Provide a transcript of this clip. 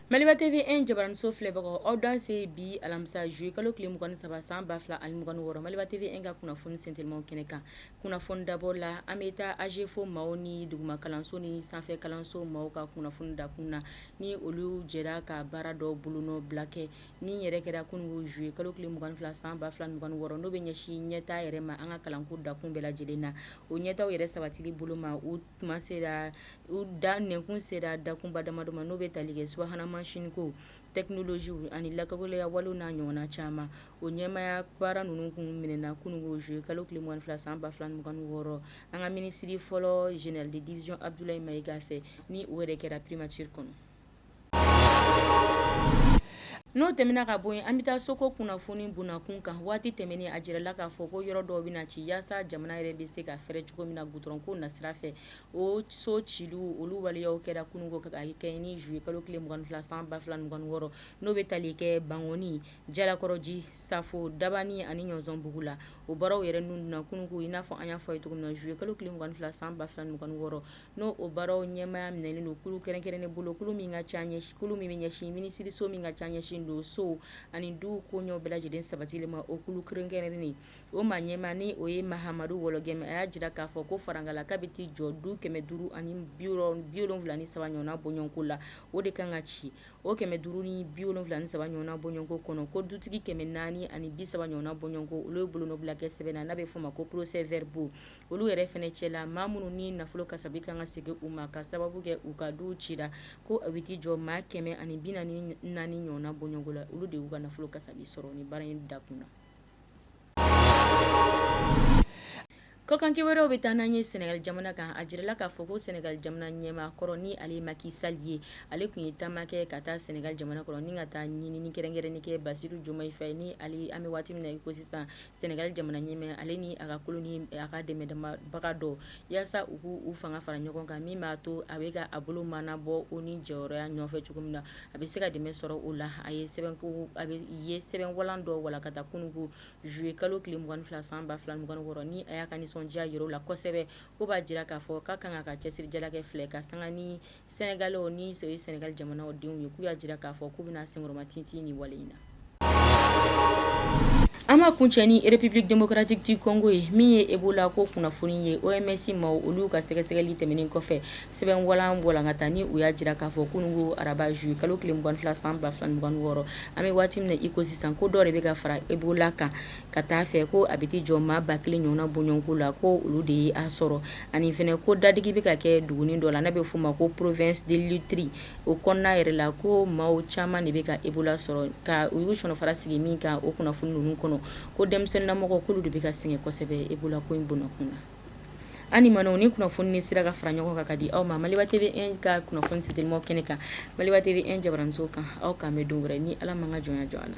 Maliba TV jabaraninso filɛbagaw aw danse bi alamisa zuye kalo tile mugan ni saba san ba fila ani mugan ni wɔɔrɔ Maliba TV ka kunnafoni sentelimaw kɛnɛ kan kunnafoni dabɔ la an bɛ taa AGEFAU maaw ni duguma kalanso ni sanfɛ kalanso maaw ka kunnafoni dakun na ni olu jɛra ka baara dɔ bolonɔ bila kɛ Ni yɛrɛ kɛra kununko zuye kalo tile mugan ni fila san ba fila mugan ni wɔɔrɔ n'o bɛ ɲɛsin ɲɛtaa yɛrɛ ma an ka kalanko dakun bɛɛ lajɛlen na o ɲɛtaa yɛrɛ sabatili bolo ma u da nɛnkun sera dakunba damadɔ ma n'o bɛ tali kɛ subahana mansinko tɛkinolozi ani lakɔli walew n'a ɲɔgɔnna caman o ɲɛmaya baara ninnu kun minɛna kununko zuye kalo tile mugan ni fila san ba fila mugan ni wɔɔrɔ an ka minisiri fɔlɔ général de division Abudulayi Mayiga fɛ ni o yɛrɛ kɛra primature kɔnɔ N'o tɛmɛna ka bɔ yen an bɛ taa soko kunnafoni bunakun kan waati tɛmɛnen a jirala k'a fɔ ko yɔrɔ dɔw bɛna ci yaasa jamana yɛrɛ bɛ se ka fɛrɛ cogo min na gudurɔnko nasira fɛ o so ciliw olu waleyaw kɛra kununko ka kɛ ni zuye kalo tile mugan ni fila san ba fila mugan ni wɔɔrɔ n'o bɛ tali kɛ bangɔni jalakɔrɔji safo dabani ani ɲɔsɔnbugu la o baaraw yɛrɛ ninnu na kununko i n'a fɔ an y'a fɔ aw ye cogo min na zuye kalo tile mugan ni fila san ba fila mugan ni wɔɔrɔ n'o o baaraw ɲɛmaya minɛnen don kulu kɛrɛnkɛrɛnnen bolo kulu min ka ca ɲɛ kulu min bɛ ɲɛsin minisiriso min ka ca ɲɛsinnen don so ani du koɲɛw bɛɛ lajɛlen sabatili ma o kulu kɛrɛnkɛrɛnnen o maa ɲɛmaa ni o ye mahamadu Wɔlɔgɛmu a y'a jira k'a fɔ ko farankan la k'a bɛ t'i jɔ du kɛmɛ duuru ani bi wolonwula ni saba ɲɔgɔn bɔɲɔgɔnko la o de kan ka ci o kɛmɛ duuru ni bi wolonwula ni saba ɲɔgɔn bɔɲɔgɔnko kɔnɔ ko dutigi kɛmɛ naani ani bi saba ɲɔgɔn bɔɲɔgɔnko olu ye bolo bila kɛ sɛbɛn na n'a bɛ f'o ma ko procès-verbaux olu yɛrɛ fana cɛ la maa minnu ni nafolo kasabi kan ka segin u ma ka sababu kɛ u ka duw cira ko a bɛ jɔ maa kɛmɛ ani bi naani ɲɔgɔn bɔɲɔgɔnko la olu de y'u ka nafolo kasabi sɔrɔ ni baara in dakun na kɔkan kibaruw bɛ taa n'an ye Sɛnɛgali jamana kan a jirala k'a fɔ ko Sɛnɛgali jamana ɲɛmaa kɔrɔ ni ale Maki Sali ye ale tun ye taama kɛ ka taa Sɛnɛgali jamana kɔnɔ ni ka taa ɲinini kɛrɛnkɛrɛnnen kɛ Basiru Jomayi Fayi ni an bɛ waati min na i ko sisan Sɛnɛgali jamana ɲɛmaa ye ale ni a ka kulu ni a ka dɛmɛbaga dɔ yaasa u k'u fanga fara ɲɔgɔn kan min b'a to a bɛ ka a bolo mɔɔnɔbɔ ONU jɔyɔrɔya nɔfɛ cogo min na a bɛ se ka dɛmɛ sɔrɔ o la a ye sɛbɛn walan dɔ walankata kununko zuye kalo tile mugan ni fila san ba fila mugan ni wɔɔrɔ ni a y'a ka nisɔndiya yir'u la kosɛbɛ k'o b'a jira k'a fɔ k'a kan ka cɛsirijala kɛ fila ye ka sanga ni Sɛnɛgalɛw ni Sɛnɛgali jamana o denw ye k'u y'a jira k'a fɔ k'u bɛna senkɔrɔmatintin ni wale in na an ma kuncɛ ni République démocratique du Congo ye min ye Ebola ko kunnafoni ye OMS maaw olu ka sɛgɛsɛgɛli tɛmɛnen kɔfɛ sɛbɛn walan walankata ni u y'a jira k'a fɔ kununko araba zuye kalo tile mugan ni fila san ba fila mugan ni wɔɔrɔ an bɛ waati min na iko sisan ko dɔ de bɛ ka fara Ebola kan ka taa a fɛ ko a bɛ t'i jɔ maa ba kelen ɲɔgɔnna bɔɲɔgɔnko la ko olu de ye a sɔrɔ ani fɛnɛ ko dadigi bɛ ka kɛ dugunin dɔ la n'a bɛ f'o ma ko province de l'ituri o kɔnɔna yɛrɛ la ko maa caman de bɛ ka ebola sɔrɔ ka u y'u sɔninfara sigi min kan o kunnafoni ninnu kɔnɔ ko denmisɛnninlamɔgɔ k'olu de bɛ ka sɛgɛn kosɛbɛ ebola ko in bɔn kun na ani ma ni kunnafoni ni sera ka fara ɲɔgɔn kan ka di aw ma maliba tv un ka kunnafoni ci telimaw kɛnɛ kan maliba tv un jabaranso kan aw k'an bɛn don wɛrɛ ni ala m'an ka jɔnya jɔ an na